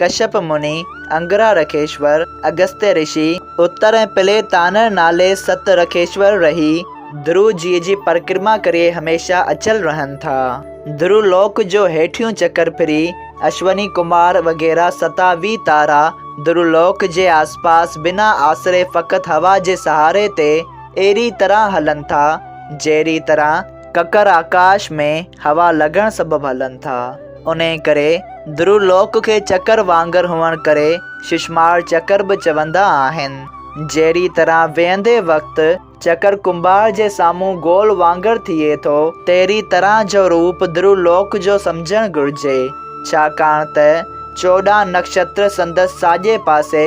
ڪشيپ مني، انگرا رکيشور، اگستيه رشي، اتر ۽ پلي تانر نالي ست رکيشور رهي ڌرو جيء جي پرڪرما ڪري هميشه اچل رهن ٿا. ڌرو لوڪ جو هيٺيون چڪر ڦري اشوني ڪمار وغيره ستاويهه تارا ڌرو لوڪ جي آسپاس بنا آسري فقط هوا جي سهاري تي اهڙي طرح هلن ٿا جهڙي طرح ڪڪر آڪاش ۾ هوا لڳڻ سبب هلن ٿا، انهيء ڪري ڌرو لوڪ کي چڪر وانگر هئڻ ڪري ششمار چڪر به چوندا آهن. جهڙيء طرح ويهندي وقت چڪر ڪنڀار جي سامهون گول وانگر ٿئي ٿو، تهڙيء طرح جو روپ ڌرو لوڪ جو سمجهڻ گهرجي، ڇاڪاڻ ته چوڏهن نڪشتر سندس ساڄي پاسي،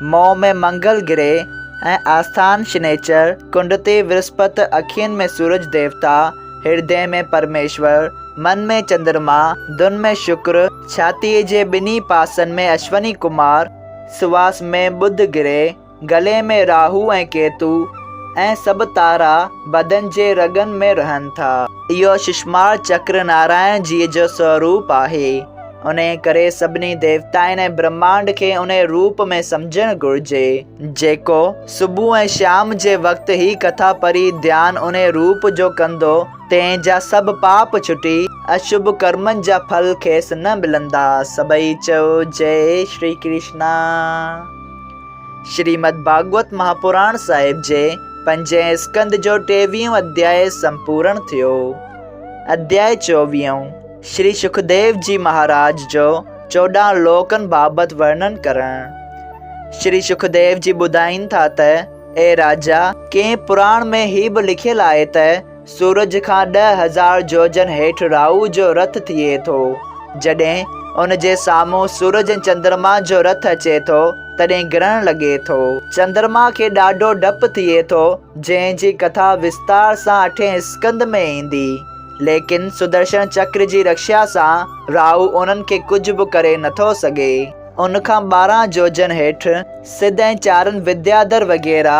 منهن ۾ منگل گرهه ۽ آسٿان شنيچر، ڪنڊ تي ورسپت، اکين ۾ سورج ديوتا، هردي ۾ پرميشور، من ۾ چندرما، ڌن ۾ شڪر، ڇاتيء جي ٻنهي پاسن ۾ اشوني ڪمار، سواس ۾ ٻڌ گرهه، گلي ۾ راهو ۽ ڪيتو ۽ سڀ تارا بدن جي رڳن ۾ رهن ٿا. اهو ششمار چڪر نارائڻ جيء جو سوروپ آهي. انهيء ڪري سڀني ديوتائن ۽ برهمانڊ کي انهيء روپ ۾ سمجهڻ گهرجي، جيڪو صبح ۽ شام جي وقت هي ڪٿا پڙهي ڌيان انهيء روپ جو ڪندو، تنهن جا سڀ پاپ ڇٽي، اشڀ ڪرمن جا ڦل کيس نه ملندا. سڀئي چئو، جئي شري ڪرشنا. شريمد ڀاڳوت مهاپراڻ صاحب جي پنجين اسڪنڌ جو ٽيويهون اڌيائي سمپورڻ ٿيو. اڌيائي چوويهون. شري سکديو جي مهاراج جو چوڏهن لوڪن بابت ورنن ڪرڻ. شري سکديو جي ٻڌائين ٿا ته، اي راجا! ڪنهن پراڻ ۾ هي به لکيل آهي ته، سورج کان ڏهه هزار جوجن هيٺ راهو جو رٿ ٿئي ٿو. جڏهن ان جي سامهون سورج ۽ چندرما جو رٿ اچي ٿو، تڏهن گرهڻ لڳي ٿو. چندرما کي ڏاڍو ڊپ ٿئي ٿو، جنهن جي ڪٿا وستار سان اٺين اسڪند ۾ ايندي. ليڪن سدرشڻ چڪر جي رڪشا سان راهو انهن کي ڪجهه به ڪري نٿو سگهي. ان کان ٻارهن جوجن هيٺ سڌ ۽ چارن وديادر وغيره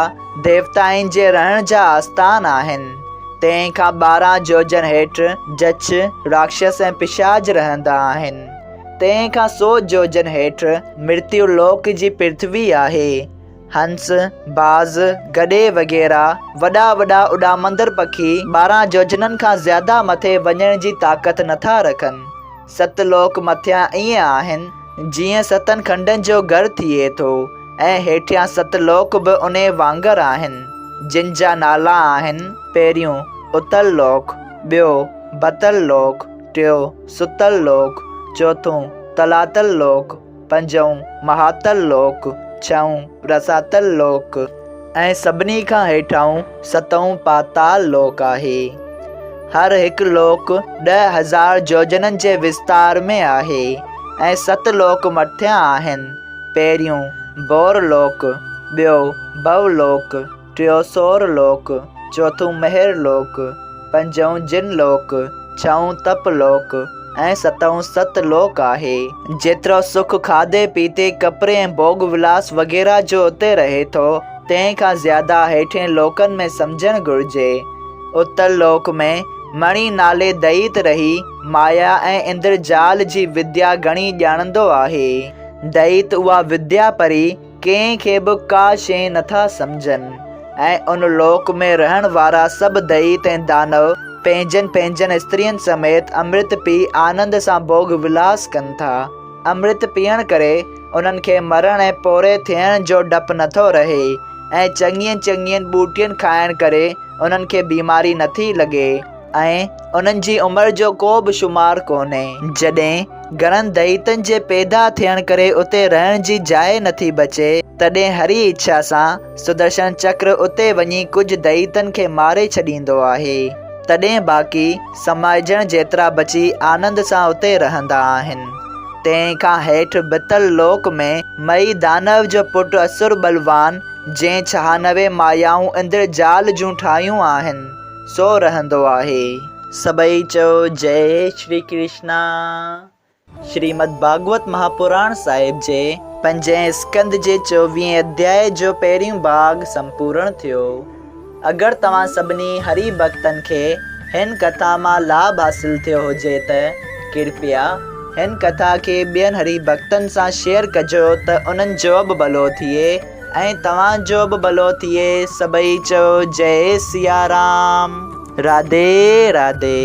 ديوتائن جي رهڻ جا آستان آهن. تنهن کان ٻارهن جوجن هيٺ جڇ، راڪشس ۽ پشاچ رهندا آهن. تنهن کان سو جوجن هيٺ مرتيو لوڪ جي پرٿوي آهي. هنس، باز، گڏي وغيره وڏا وڏا اڏامندڙ پکي ٻارهن يوجنن کان زياده مٿي وڃڻ جي طاقت نٿا رکن. ست لوڪ مٿيان ائين آهن جيئن ستن کنڊن جو گهر ٿئي ٿو ۽ هيٺيان ست لوڪ به انهي وانگر آهن، جن جا نالا آهن، پهريون، اتل لوڪ، ٻيو، بتل لوڪ، ٽيون، ستل لوڪ، چوٿون، تلاتل لوڪ. پنجون، مهاتل لوڪ، ڇهون، رساتل لوڪ ۽ سڀني کان هيٺاهون ستون پاتال لوڪ آهي. هر هڪ لوڪ ڏهه هزار جوجنن جي وستار ۾ آهي ۽ ست لوڪ مٿيان آهن، پهريون، ڀور لوڪ، ٻيو، ڀو لوڪ، ٽيون سور لوڪ، چوٿون مهر لوڪ، پنجون جن لوڪ، ڇهون تپ لوڪ ۽ ستون ست لوڪ آهي. جيترو سک کاڌي پيتي، ڪپڙي ۽ ڀوڳ ولاس وغيره جو اتي رهي ٿو، تنهن کان زياده هيٺين لوڪن ۾ سمجهڻ گهرجي. اتر لوڪ ۾ مڻي نالي دئيت رهي مايا ۽ اندرجال جي وديا گهڻي ڄاڻندو آهي. دئيت اها وديا پري. ڪنهن کي به ڪا شيء نٿا سمجهن ۽ ان لوڪ ۾ رهڻ وارا سڀ دئيت ۽ دانو پنهنجن پنهنجن استرين سميت امرت پي آنند سان ڀوڳ ولاس ڪن ٿا. امرت پيئڻ ڪري انهن کي مرڻ ۽ پوري ٿيڻ جو ڊپ نٿو رهي ۽ چڱين چڱين ٻوٽين کائڻ ڪري انهن کي بيماري نٿي لڳي. ۽ انهن جي عمر جو ڪو به شمار ڪونهي. جڏهن گهڻن دئيتن جي پيدا ٿيڻ ڪري اتي رهڻ جي جاء نٿي بچي، تڏهن هري اڇا سان سدرشڻ چڪر اتي وڃي ڪجهه دئيتن کي ماري ڇڏيندو آهي. تڏهن باقي سمائجڻ جيترا بچي آنند سان اتي رهندا آهن. تنهن کان هيٺ بتل لوڪ ۾ مئي دانو جو پٽ اسور بلوان، جنهن ڇهانوي مايائون اندر جال جون ٺاهيون آهن، سو رهندو آهي. سڀئي چئو جئي شري ڪرشنا. شريمد ڀاڳوت مهاپراڻ صاحب جي پنجين اسڪند جي چوويهين اڌياء جو پهريون ڀاڳ سمپورڻ ٿيو. اگر توهان سڀني هري ڀڳتن کي هن ڪٿا مان لاڀ حاصل ٿيو هجي ته ڪرپيا هن ڪٿا کي ٻين هري ڀڳتن سان شيئر ڪجو ته انهن جوبه ڀلو ٿئي. ۽ توهان جو به ڀلو ٿئي. سڀئي چئو جئي سيارام راڌي راڌي.